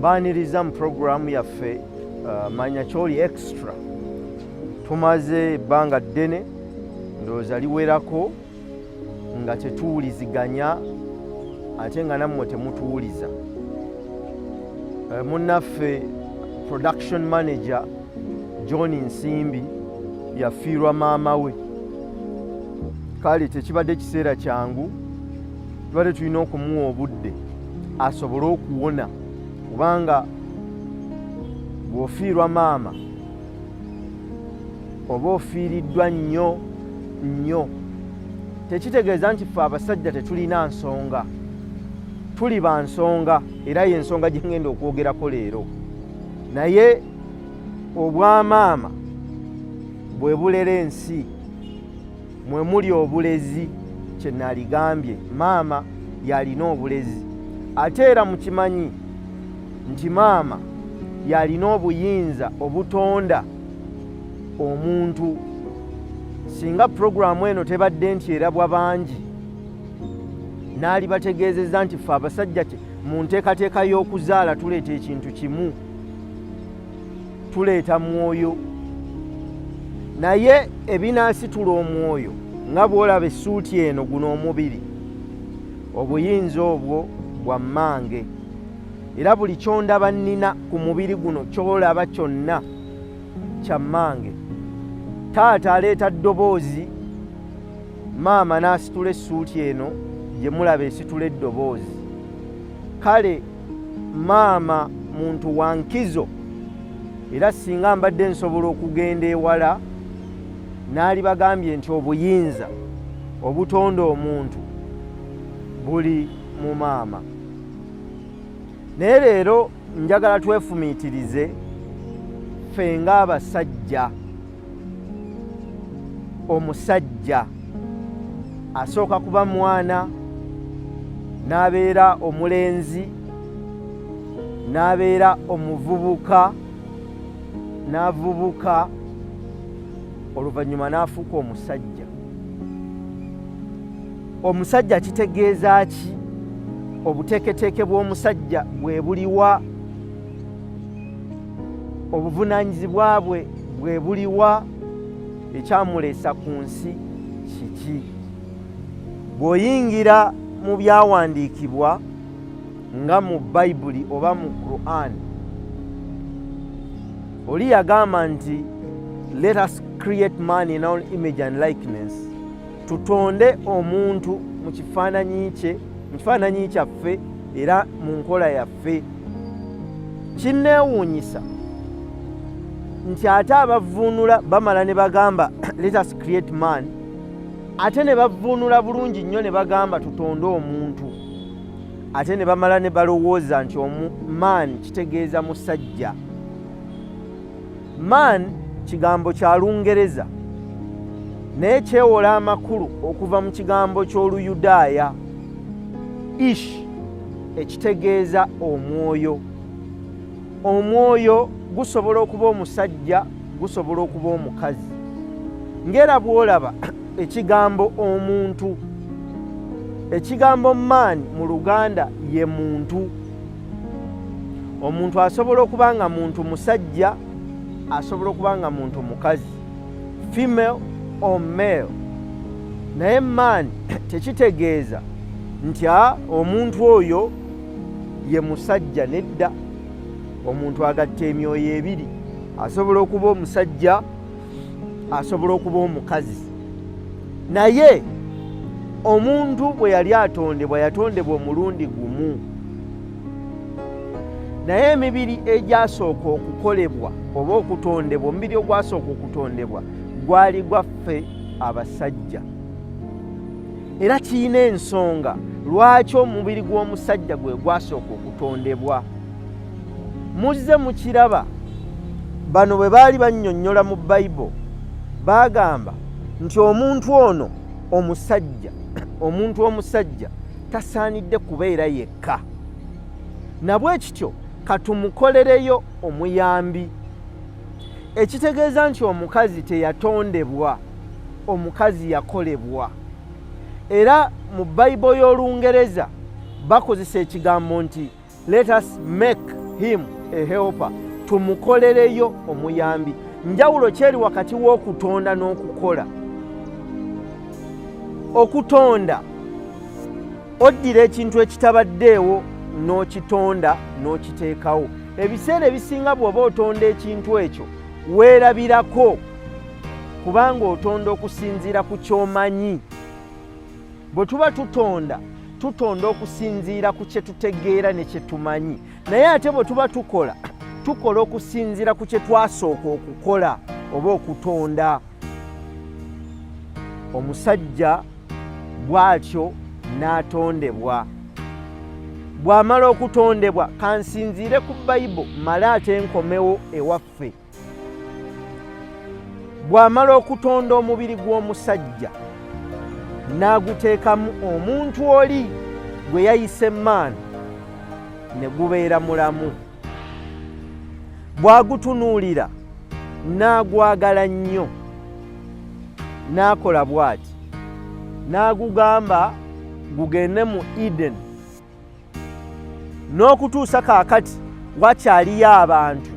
mbaaniriza mu pulogulaamu yaffe uh, manya kyoli extra tumaze ebbanga ddene ndowooza liwerako nga tetuwuliziganya ate nga nammwe temutuwuliza uh, munnaffe production manager john nsimbi yafiirwa maama we kale tekibadde kiseera kyangu tubadde tulina okumuwa obudde asobole okuwona kubanga bw'ofiirwa maama oba ofiiriddwa nnyo nnyo tekitegeeza nti ffe abasajja tetulina nsonga tuli ba nsonga era ye nsonga gye ŋŋenda okwogerako leero naye obwamaama bwe bulera ensi mwe muli obulezi kye naligambye maama yalina obulezi ate era mukimanyi nti maama yalina obuyinza obutonda omuntu singa puroguramu eno tebadde nti erabwa bangi n'alibategeezezza nti ffe abasajja mu nteekateeka y'okuzaala tuleeta ekintu kimu tuleeta mwoyo naye ebinaasitula omwoyo nga bw'olaba essuuti eno guno omubiri obuyinza obwo bwa mmange era buli kyondaba nnina ku mubiri guno kyolaba kyonna kya mmange taata aleeta ddoboozi maama n'asitula essuuti eno gye mulaba esitula eddoboozi kale maama muntu wa nkizo era singa mbadde nsobola okugenda ewala naali bagambye nti obuyinza obutonda omuntu buli mu maama naye leero njagala twefumiitirize ffe ng'abasajja omusajja asooka kuba mwana n'abeera omulenzi n'abeera omuvubuka n'avubuka oluvannyuma n'afuuka omusajja omusajja kitegeeza ki obuteeketeeke bw'omusajja bwe buliwa obuvunaanyizibwa bwe bwe buliwa ekyamuleesa ku nsi kiki bw'oyingira mu byawandiikibwa nga mu bayibuli oba mu quran oli yagamba nti let us create man in our image and likeness tutonde omuntu mu kifaananyi kye mu kifaananyi kyaffe era mu nkola yaffe waffe. Kinneewuunyisa nti ate abavvuunula bamala ne bagamba let us create man ate ne bavvuunula bulungi nnyo ne bagamba tutonde omuntu ate ne bamala ne balowooza nti omu man kitegeeza musajja Man kigambo kya Lungereza naye kyewola amakulu okuva mu kigambo ky'Oluyudaaya ish ekitegeeza omwoyo. Omwoyo gusobola okuba omusajja, gusobola okuba omukazi. Ng'era bw'olaba ekigambo omuntu, ekigambo man mu Luganda ye muntu. omuntu asobola okuba nga muntu musajja asobola okuba nga muntu mukazi female or male naye man tekitegeeza nti a ah, omuntu oyo ye musajja nedda omuntu agatta emyoyo ebiri asobola okuba omusajja asobola okuba omukazi naye omuntu bwe yali atondebwa yatondebwa omulundi gumu naye emibiri egyasooka okukolebwa oba okutondebwa omubiri ogwasooka okutondebwa gwali gwaffe abasajja era kirina ensonga lwaki omubiri gw'omusajja gwe gwasooka okutondebwa muzze mukiraba bano bwe baali bannyonnyola mu bayibo baagamba nti omuntu ono omusajja omuntu omusajja tasaanidde kubeera yekka nabwe kityo katumukolereyo omuyambi ekitegeeza nti omukazi teyatondebwa omukazi yakolebwa era mu bayibo y'olungereza bakozesa ekigambo nti Let us make him a helper, tumukolereyo omuyambi. Njawulo kyeri wakati w'okutonda n'okukola. Okutonda oddira ekintu ekitabaddeewo n'okitonda n'okiteekawo. Ebiseera ebisinga bw'oba otonda ekintu ekyo weerabirako kubanga otonda okusinziira ku ky'omanyi. bwe tuba tutonda tutonda okusinziira ku kye tutegeera ne kye tumanyi naye ate bwe tuba tukola tukola okusinziira ku kye twasooka okukola oba okutonda omusajja bw'atyo n'atondebwa bw'amala okutondebwa kansinziire ku bayibo male ate nkomewo ewaffe bw'amala okutonda omubiri gw'omusajja n'aguteekamu omuntu oli gwe yayise maani ne gubeera mulamu bw'agutunuulira n'agwagala nnyo n'akola bw'ati n'agugamba gugende mu edeni n'okutuusa kaakati wakyaliyo abantu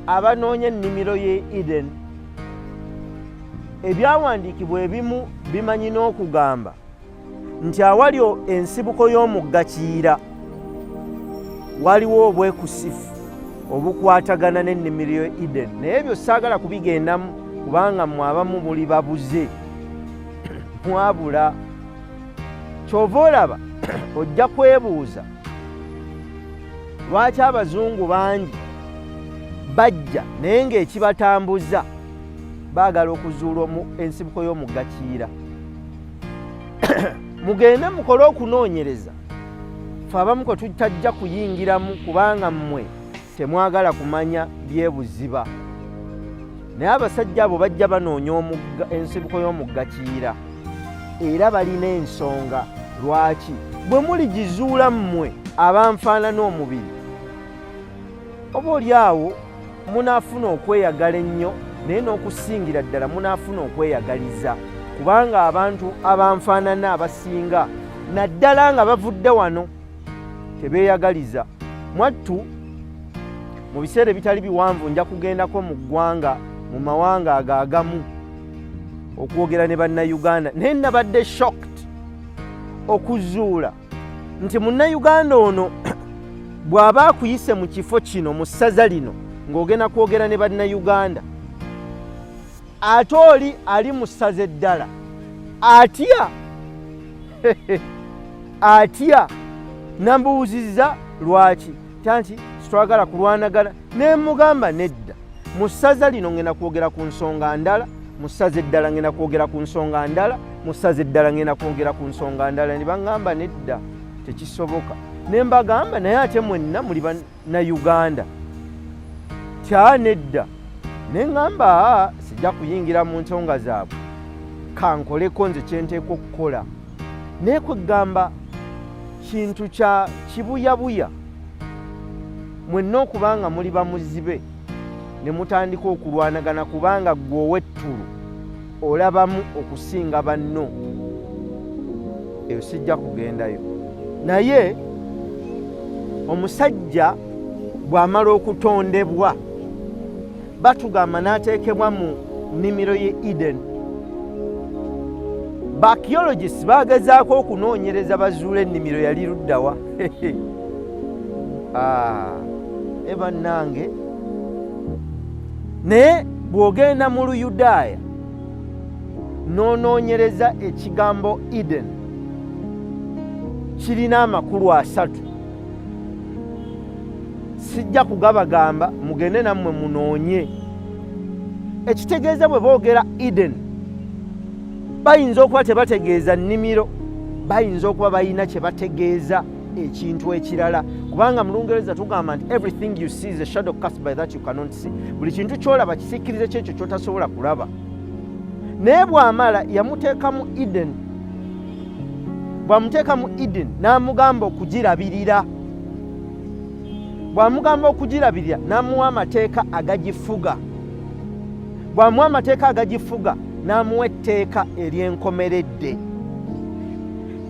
abanoonya ennimiro y'e edeni ebyawandiikibwa ebimu bimanyi n'okugamba nti awali ensibuko y'omugga kiyira waliwo obwekusifu obukwatagana n'ennimiro y'e edeni naye ebyo saagala kubigendamu kubanga mwe abamu buli babuze mwabula kyova olaba ojja kwebuuza lwaki abazungu bangi bajja naye ng'ekibatambuza baagala okuzuula omu ensibuko y'omugakiira mugende mukole okunoonyereza fe abamu kwe tutajja kuyingiramu kubanga mmwe temwagala kumanya byebuziba naye abasajja abo bajja banoonya omugga ensibuko y'omugga kiyira era balina ensonga lwaki bwe muligizuula mmwe abanfaanana omubiri oba oli awo munaafuna okweyagala ennyo naye n'okusingira ddala munaafuna okweyagaliza kubanga abantu abanfaanana abasinga naddala nga bavudde wano tebeeyagaliza mwattu mu biseera ebitali biwanvu nja kugendako mu ggwanga mu mawanga ago agamu okwogera ne bannayuganda naye nabadde shocked okuzuula nti munnayuganda ono bw'aba akuyise mu kifo kino mu ssaza lino ng'ogenda kwogera ne bannayuganda ate oli ali mu ssaza eddala atya atya nambuwuziza lwaki kyanti sitwagala kulwanagana nemugamba nedda mu ssaza lino ngenda kwogera ku nsonga ndala mu ssaza eddala ngenda kwogera ku nsonga ndala mu ssaza eddala ngenda kwogera ku nsonga ndala ne baŋŋamba nedda tekisoboka ne mbagamba naye ate mwenna muli na uganda kyanedda neŋamba sijja kuyingira mu nsonga zaabwe kankoleko nze kyenteeka okukola naye kwegamba kintu kya kibuyabuya mwenna okuba nga muli bamuzibe ne mutandika okulwanagana kubanga gwe owettulu olabamu okusinga banno eyo sijja kugendayo naye omusajja bw'amala okutondebwa batugamba n'ateekebwa mu nnimiro ye eden bakiologist bagezaako okunoonyereza bazuula ennimiro yali luddawa ah, e bannange naye bw'ogenda mu luyudaaya n'onoonyereza ekigambo eden kirina amakulu asatu sijja kugabagamba mugende nammwe munoonye ekitegeeza bwe boogera eden bayinza okuba tebategeeza nnimiro bayinza okuba balina kye bategeeza ekintu ekirala kubanga mu lungereza tugamba nti everything you see is a shadow cast by that you cannot see buli kintu kyolaba kisikkirize kyekyo kyotasobola kulaba naye bwamala yamuteeka mu eden bwamuteeka mu eden n'amugamba okugirabirira bwamugamba okugirabirira n'amuwa amateeka agagifuga bwamuwa amateeka agagifuga n'amuwa etteeka ery'enkomeredde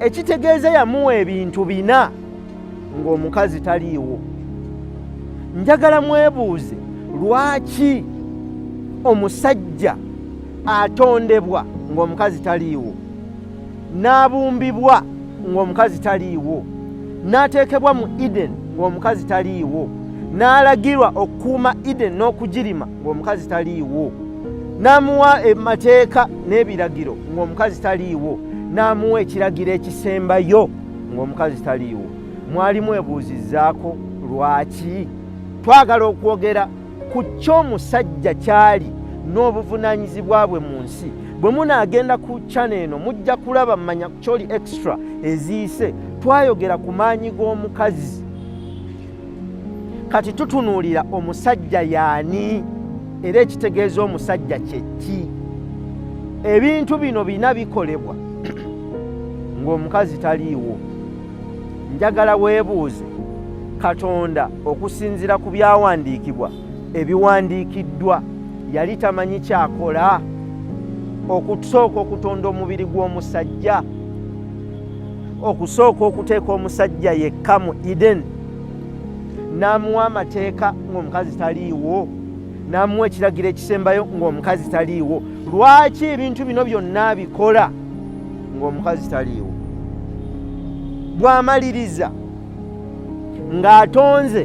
ekitegeeza yamuwa ebintu bina ng'omukazi taliiwo njagala mwebuuze lwaki omusajja atondebwa ng'omukazi taliiwo n'abumbibwa ng'omukazi taliiwo n'ateekebwa mu eden ng'omukazi taliiwo n'alagirwa okukuuma eden n'okugirima ng'omukazi taliiwo n'amuwa emateeka n'ebiragiro ng'omukazi taliiwo n'amuwa ekiragiro ekisembayo ng'omukazi taliiwo mwali mwebuuzizzaako lwaki twagala okwogera ku ky'omusajja kyali n'obuvunaanyizibwa bwe mu nsi bwe munaagenda ku cana eno mujja kulaba mumanya kyoli extra eziise twayogera ku maanyi g'omukazi kati tutunuulira omusajja yaani era ekitegeeza omusajja kyeki ebintu bino bina bikolebwa ng'omukazi taliiwo njagala weebuuze katonda okusinziira ku byawandiikibwa ebiwandiikiddwa yali tamanyi kyakola okusooka okutonda omubiri gw'omusajja okusooka okuteeka omusajja yekka mu eden n'amuwa amateeka ng'omukazi taliiwo n'amuwa ekiragiro ekisembayo ng'omukazi taliiwo lwaki ebintu bino byonna abikola ng'omukazi taliiwo bw'amaliriza ng'atonze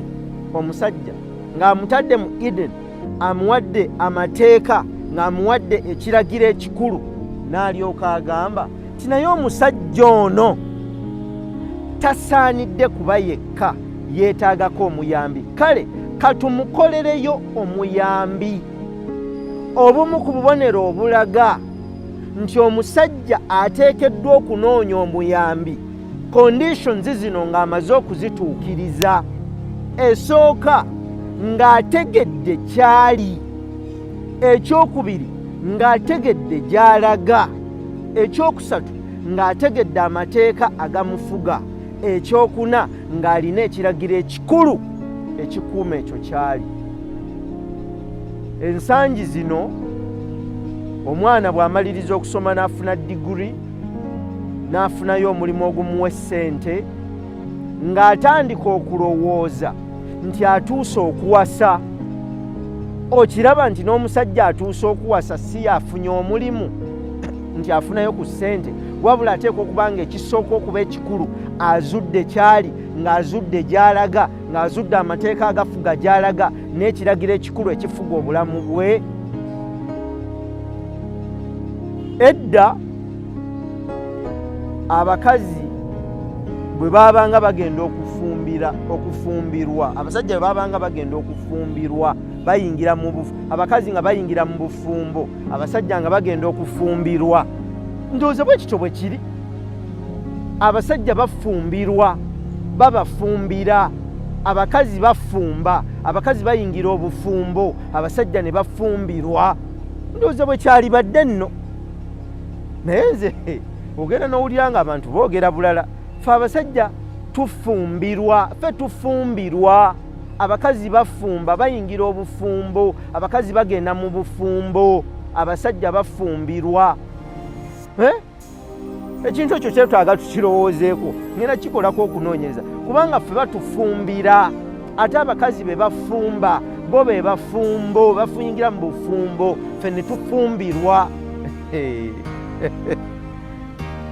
omusajja ng'amutadde mu eden amuwadde amateeka ng'amuwadde ekiragiro ekikulu n'alyoka agamba ti naye omusajja ono tasaanidde kuba yekka yeetaagako omuyambi kale katumukolereyo omuyambi obumu ku bubonero obulaga nti omusajja ateekeddwa okunoonya omuyambi conditions zino ng'amaze okuzituukiriza esooka ng'ategedde kyali ekyokubiri ng'ategedde gy'alaga ekyokusatu ng'ategedde amateeka agamufuga ekyokuna ng'alina ekiragiro ekikulu ekikuuma ekyo kyali ensangi zino omwana bw'amaliriza okusoma n'afuna diguri n'afunayo omulimu ogumuwa essente ng'atandika okulowooza nti atuuse okuwasa okiraba nti n'omusajja atuuse okuwasa si afunye omulimu nti afunayo ku ssente wabula ateekwa okuba nga ekisooka okuba ekikulu azudde kyali ng'azudde gy'alaga ng'azudde amateeka agafuga gy'alaga n'ekiragiro ekikulu ekifuga obulamu bwe edda abakazi bwe baabanga bagenda okufumbira okufumbirwa abasajja bwe baabanga bagenda okufumbirwa bayingira mu abakazi nga bayingira mu bufumbo abasajja nga bagenda okufumbirwa ndowooza bwe kityo bwe kiri abasajja bafumbirwa babafumbira abakazi bafumba abakazi bayingira obufumbo abasajja ne bafumbirwa ndowooza bwe kyalibadde nno naye nze ogenda nowulira nga abantu boogera bulala fe abasajja tufumbirwa fe tufumbirwa abakazi bafumba bayingira obufumbo abakazi bagenda mu bufumbo abasajja bafumbirwa eh? ekintu ekyo kyetwaga tukirowoozeeko ngenda kikolako okunoonyereza kubanga fe batufumbira ate abakazi be bafumba bo be bafumbo bafuyingira mu bufumbo fe ne tufumbirwa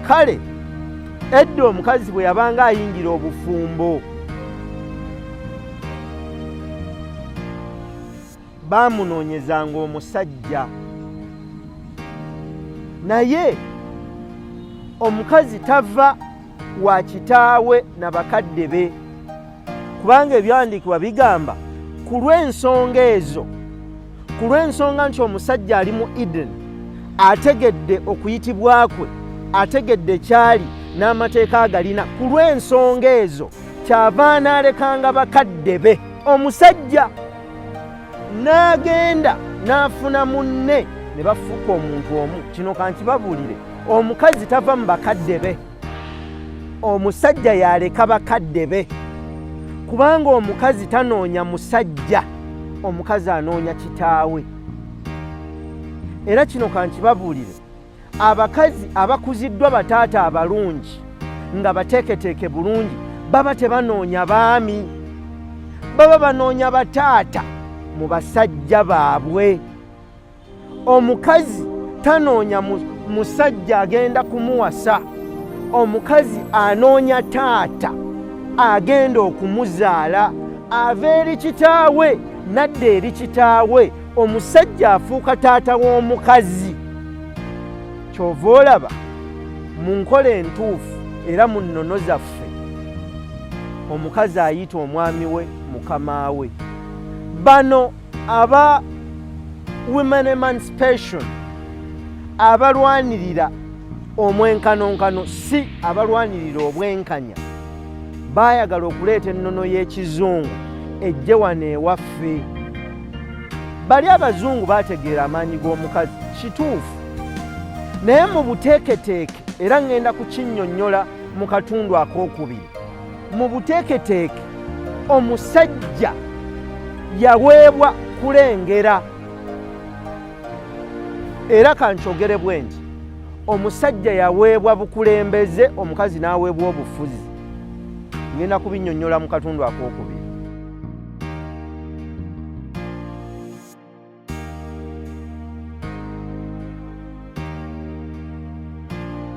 kale edda omukazi bwe yabanga ayingira obufumbo baamunoonyezanga omusajja naye omukazi tava wa kitaawe na bakadde be kubanga ebyawandiikibwa bigamba ku lw'ensonga ezo ku lw'ensonga nti omusajja ali mu edeni ategedde okuyitibwa kwe ategedde kyali n'amateeka agalina ku lw'ensonga ezo kyava anaalekanga bakadde be omusajja n'agenda n'afuna munne ne bafuuka omuntu omu kino kankibabuulire omukazi tava mu bakadde be omusajja yaleka bakadde be kubanga omukazi tanoonya musajja omukazi anoonya kitaawe era kino kankibabuulire abakazi abakuziddwa bataata abalungi nga bateeketeeke bulungi baba tebanoonya baami baba banoonya bataata mu basajja baabwe omukazi tanoonya musajja agenda kumuwasa omukazi anoonya taata agenda okumuzaala ava eri kitaawe nadda eri kitaawe omusajja afuuka taata w'omukazi kyova olaba mu nkola entuufu era mu nnono zaffe omukazi ayita omwami we mukama we bano aba women emancipation abalwanirira omwenkanonkano si abalwanirira obwenkanya baayagala okuleeta ennono y'ekizungu ejje wano ewaffe bali abazungu baategeera amaanyi g'omukazi kituufu naye mu buteeketeeke era ŋŋenda kukinnyonnyola mu katundu ak'okubiri Mu buteeketeeke omusajja yaweebwa kulengera era kankyogere bwe nti omusajja yaweebwa bukulembeze omukazi n'aweebwa obufuzi ngenda kubinnyonnyola mu katundu ak'okubiri